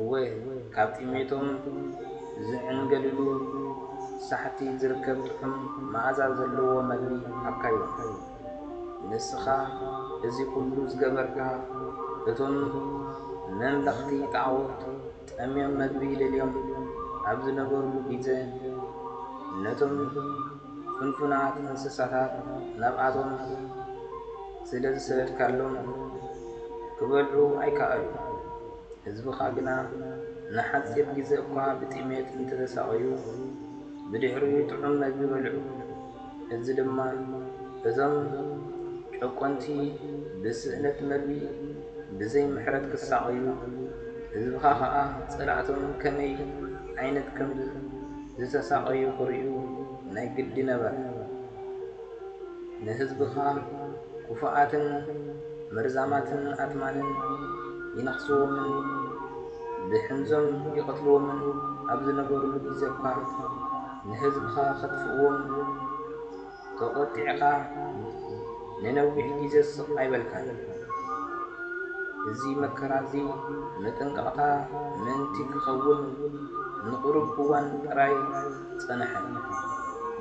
እወ፣ ካብ ጥሜቶም ዚዕንገልሉ ሳሕቲ ዚርከብ ጥዑም መኣዛ ዘለዎ ምግቢ ሃብካዮም። ንስኻ እዚ ዅሉ ዝገበርካ፣ እቶም ነምለኽቲ ጣኦት ጠምዮም መግቢ ደልዮም ኣብ ዝነበሩሉ ጊዘ፣ ነቶም። ፍንፉናት እንስሳታት ናብኣቶም ስለ ዝሰደድካሎም ኪበልዑ ኣይከኣሉን። ህዝብኻ ግና ንሓጺር ግዜ እኳ ብጥሜት እንተ ተሳቐዩ፣ ብድሕሪኡ ጥዑም መግቢ በልዑ። እዚ ድማ እዞም ጨቈንቲ ብስእነት መግቢ ብዘይ ምሕረት ኪሳቐዩ፣ ህዝብኻ ኸኣ ጸላእቶም ከመይ ዓይነት ከም። ዝተሳቐዩ ክርእዩ ናይ ግዲ ነበረ። ንህዝብኻ ክፉኣትን መርዛማትን ኣትማንን ይነኽስዎምን ብሕንዞም ይቐትልዎምን ኣብ ዝነበሩሉ ግዜኳ ንህዝብኻ ከጥፍእዎም፣ ተቖጢዕካ ንነዊሕ ግዜ ስቕ ኣይበልካን። እዚ መከራ'ዚ መጠንቀቕታ ምእንቲ ክኸውን ንቕሩብ እዋን ጥራይ ጸንሐ።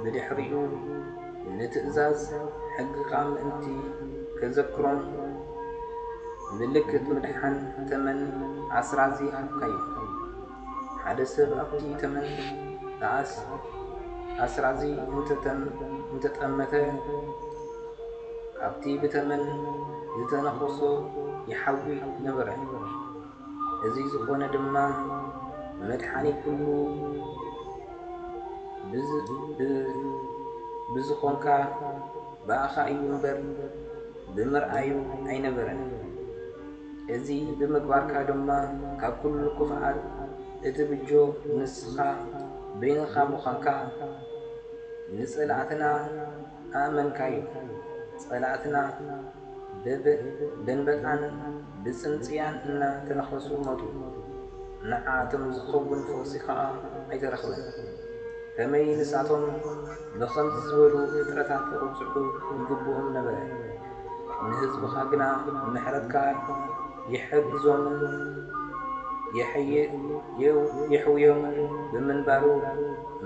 ብድሕሪኡ ንትእዛዝ ሕግኻ ምእንቲ ከዘክሮን ምልክት ምድሓን ተመን ኣስራዚ ሃብካዮ። ሓደ ሰብ ኣብቲ ተመን ንኣስ ኣስራዚ እንተጠመተ፣ ካብቲ ብተመን ዝተነኸሶ ይሓዊ ነበረ። እዚ ዝኾነ ድማ መድሓኒ ኩሉ ብዝኾንካ ብኣኻ እዩ እምበር ብምርኣዩ ኣይነበረን። እዚ ብምግባርካ ድማ ካብ ኩሉ ክፍኣት እትብጆ ንስኻ በይንኻ ምዃንካ ንጸላእትና ኣእመንካዮም። ጸላእትና በብ ደንበጣን ብጽንጽያን እና ተነኸሱ ሞቱ። ንዓኣቶም ዝኸውን ፈውሲ ከኣ ኣይተረኽበን። ከመይ ንሳቶም ብኸምዚ ዝበሉ ፍጥረታት ክቕጽዑ ይግብኦም ነበረ። ንህዝብኻ ግና ምሕረትካ ይሕግዞምን የሕውዮምን ብምንባሩ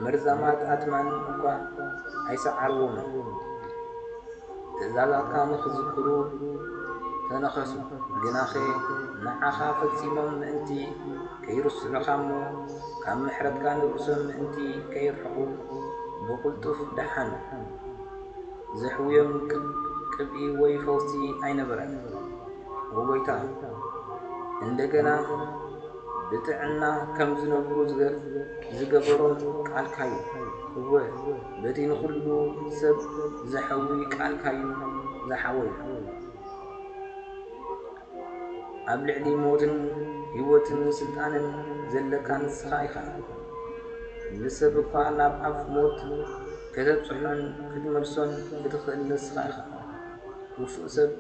መርዛማት ኣትማን እኳ ኣይሰዓርዎምን። ትእዛዛትካ ንኽዝክሩ ተነኸሱ፣ ግናኸ ንዓኻ ፈጺሞም ምእንቲ ከይርስዑኻ'ሞ ካብ ምሕረትካ ንርእሶም ምእንቲ ከየርሕቑ ብቕልጡፍ ደሓኑ። ዘሕውዮም ቅብኢ ወይ ፈውሲ ኣይነበረን። ን ጐይታ እንደገና ብጥዕና ከም ዝነብሩ ዝገበሮም ቃልካ'ዩ። እወ፣ በቲ ንዅሉ ሰብ ዘሕዊ ቃልካ'ዩ ዝሓወዩ። ኣብ ልዕሊ ሞትን ህይወትን ስልጣንን ዘለካ ንስኻ ኢኻ። ንሰብ እኳ ናብ ኣፍ ሞት ከተብጽሖን ክትመልሶን እትኽእል ንስኻ ኢኻ። ክፉእ ሰብ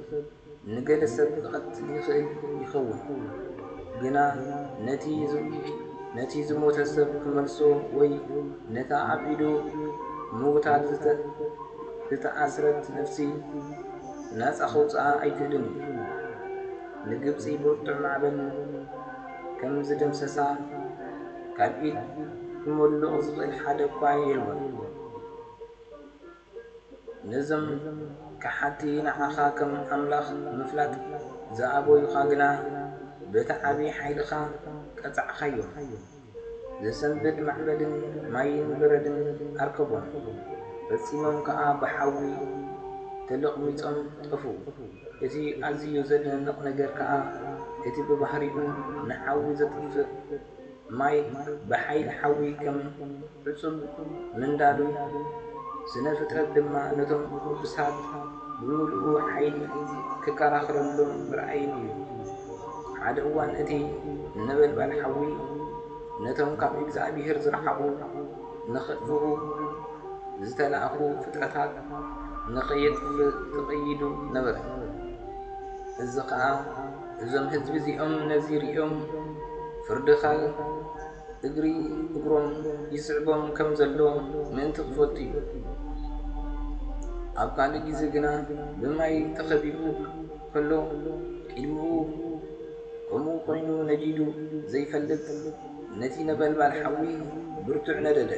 ንገለ ሰብ ክቐትል ይኽእል ይኸውን፣ ግና ነቲ ዝሞተ ሰብ ክመልሶ ወይ ነታ ኣብ ኢዱ ምውታት ዝተኣስረት ነፍሲ ናጻ ከውጽኣ ኣይክእልን እዩ። ንግብጺ ብርቱዕ ማዕበል ከም ዝደምሰሳ ካብ ኢድ ክሞልቕ ዝኽእል ሓደ እኳ የልቦን። ነዞም ከሓድቲ ንዓኻ ከም ኣምላኽ ምፍላጥ ዝኣበዩኻ ግና በቲ ዓቢ ሓይልኻ ቀጻዕካዮም። ዘሰንብድ ማዕበልን ማይን በረድን ኣርከቦም። ፈጺሞም ከኣ ብሓዊ ተለቕሚጾም ጠፍኡ። እቲ ኣዝዩ ዘደንቕ ነገር ከኣ እቲ ብባህሪኡ ንሓዊ ዘጥፍእ ማይ ብሓይሊ ሓዊ ከም። ፍጹም ምንዳዱ፣ ስነ ፍጥረት ድማ ነቶም ቅዱሳት ብምሉኡ ሓይሊ ክከራኸረሎም ምርኣይን እዩ። ሓደ እዋን እቲ ነበልባል ሓዊ ነቶም ካብ እግዚኣብሄር ዝረሓቑ ንኸጥፍኡ ዝተላእኩ ፍጥረታት ንኸየጥፍእ ተቐይዱ ነበረ። እዚ ኸኣ እዞም ህዝቢ እዚኦም ነዚ ርእዮም ፍርድኻ እግሪ እግሮም ይስዕቦም ከም ዘሎ ምእንቲ ክፈቱ እዩ። ኣብ ካልእ ግዜ ግና ብማይ ተኸቢቡ ከሎ ቅድሚኡ ከምኡ ኮይኑ ነዲዱ ዘይፈልጥ ነቲ ነበልባል ሓዊ ብርቱዕ ነደደ።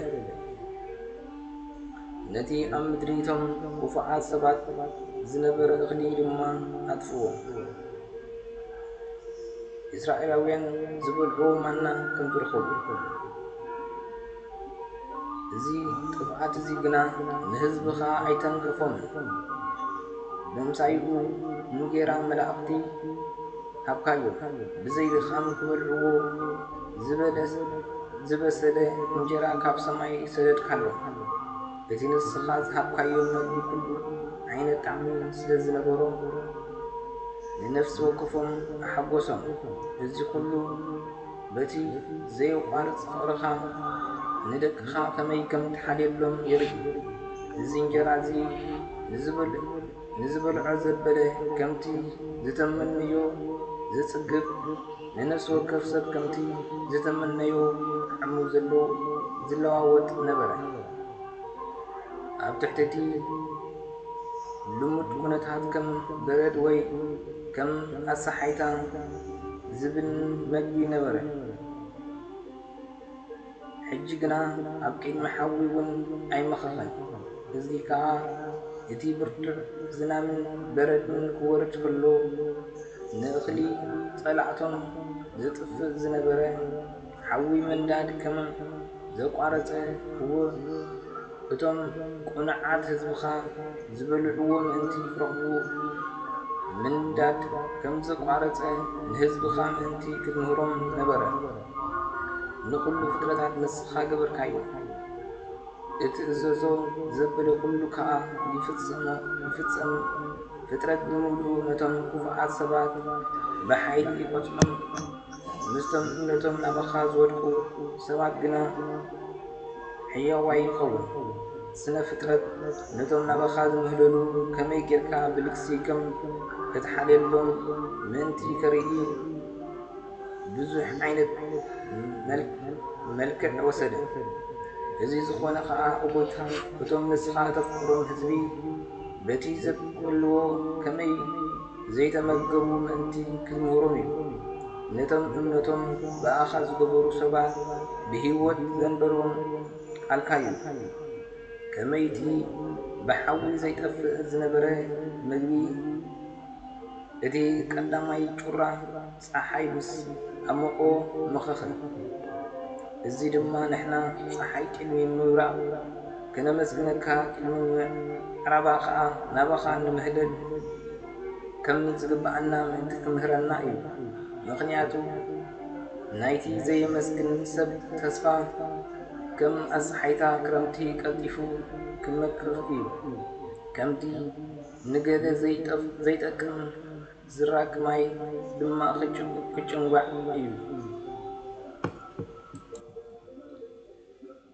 ነቲ ኣብ ምድሪ እቶም ክፉዓት ሰባት ዝነበረ እኽሊ ድማ ኣጥፍኦ። ኢስራኤላውያን ዝበልዕዎ ማና ከም ዝረኸቡ እዚ ጥፍኣት እዚ ግና ንህዝብኻ ኣይተንከፎምን። ብምሳይኡ እንጌራ መላእኽቲ ሃብካዮ ብዘይ ድኻም ክበልዕዎ ዝበሰለ እንጀራ ካብ ሰማይ ሰደድካሎም። እቲ ንስኻ ዝሃብካዮ መግቢ ኩሉ ዓይነት ጣዕሚ ስለ ዝነበሮ፣ ንነፍሲ ወከፎም ኣሐጐሶም። እዚ ዅሉ በቲ ዘየቋርጽ ፍቕርኻ ንደቅኻ ኸመይ ከም እትሓልየሎም የርኢ። እዚ እንጀራ እዚ ንዚበልዑ። ንዝበልዖ ዘበለ ከምቲ ዝተመነዮ ዘጽግብ፣ ንነፍሲ ወከፍ ሰብ ከምቲ ዝተመነዮ ጣዕሙ ዝለዋወጥ ነበረ። ኣብ ትሕቲ እቲ ልሙድ ኩነታት ከም በረድ ወይ ከም ኣሳሓይታ ዝብን መግቢ ነበረ። ሕጂ ግና ኣብ ቅድሚ ሓዊ እውን ኣይመኸኸን፣ እዚ ኸኣ እቲ ብርቱዕ ዝናምን በረድን ክወርድ ከሎ ንእኽሊ ጸላእቶም ዘጥፍእ ዝነበረ ሓዊ ምንዳድ ከም ዘቋረጸ እወ እቶም ቅኑዓት ህዝብኻ ዝበልዕዎ ምእንቲ ክረኽቡ ምንዳድ ከም ዘቋረጸ ንህዝብኻ ምእንቲ ክትምህሮም ነበረ። ንኹሉ ፍጥረታት ንስኻ ገበርካዮ፣ እትእዘዞ ዘበለ ኹሉ ከኣ ይፍጸም፣ ፍጥረት ብምሉኡ ነቶም ክፉኣት ሰባት ብሓይሊ ይቐጽዖም፣ ምስቶም እምነቶም ናባኻ ዝወድቁ ሰባት ግና ሕያዋይ ይኸውን። ስነ ፍጥረት ነቶም ናባኻ ዝምህለሉ ከመይ ጌርካ ብልግሲ ከም እትሓልየሎም ምእንቲ ከርኢ፣ ብዙሕ ዓይነት መልክዕ ወሰደ። እዚ ዝኾነ ኸኣ እኹት እቶም ንስኻ እተፍቅሮም ህዝቢ በቲ ዘብቅዕሉዎ ከመይ ዘይተመገቡ ምእንቲ ክትምህሮም እዩ። ነቶም እምነቶም ብኣኻ ዝገበሩ ሰባት ብህይወት ዘንበሮም ቃልካ እዩ። ከመይ'ቲ ብሓዊ ዘይጠፍእ ዝነበረ መግቢ፣ እቲ ቀዳማይ ጩራ ጸሓይ ምስ ኣሞቖ ምኽኸ፣ እዚ ድማ ንሕና ጸሓይ ቅድሚ ምብራቓ ከነመስግነካ ቅድሚ ምዕራባ ከኣ ናባኻ ንምህለል ከም ዝግብኣና ምእንቲ ክምህረና እዩ። ምኽንያቱ ናይቲ ዘየመስግን ሰብ ተስፋ ከም ኣጸሓይታ ክረምቲ ቀልጢፉ ክመክኽ እዩ። ከምቲ ንገለ ዘይጠቅም ዝራግ ማይ ድማ ክጭንጓዕ እዩ።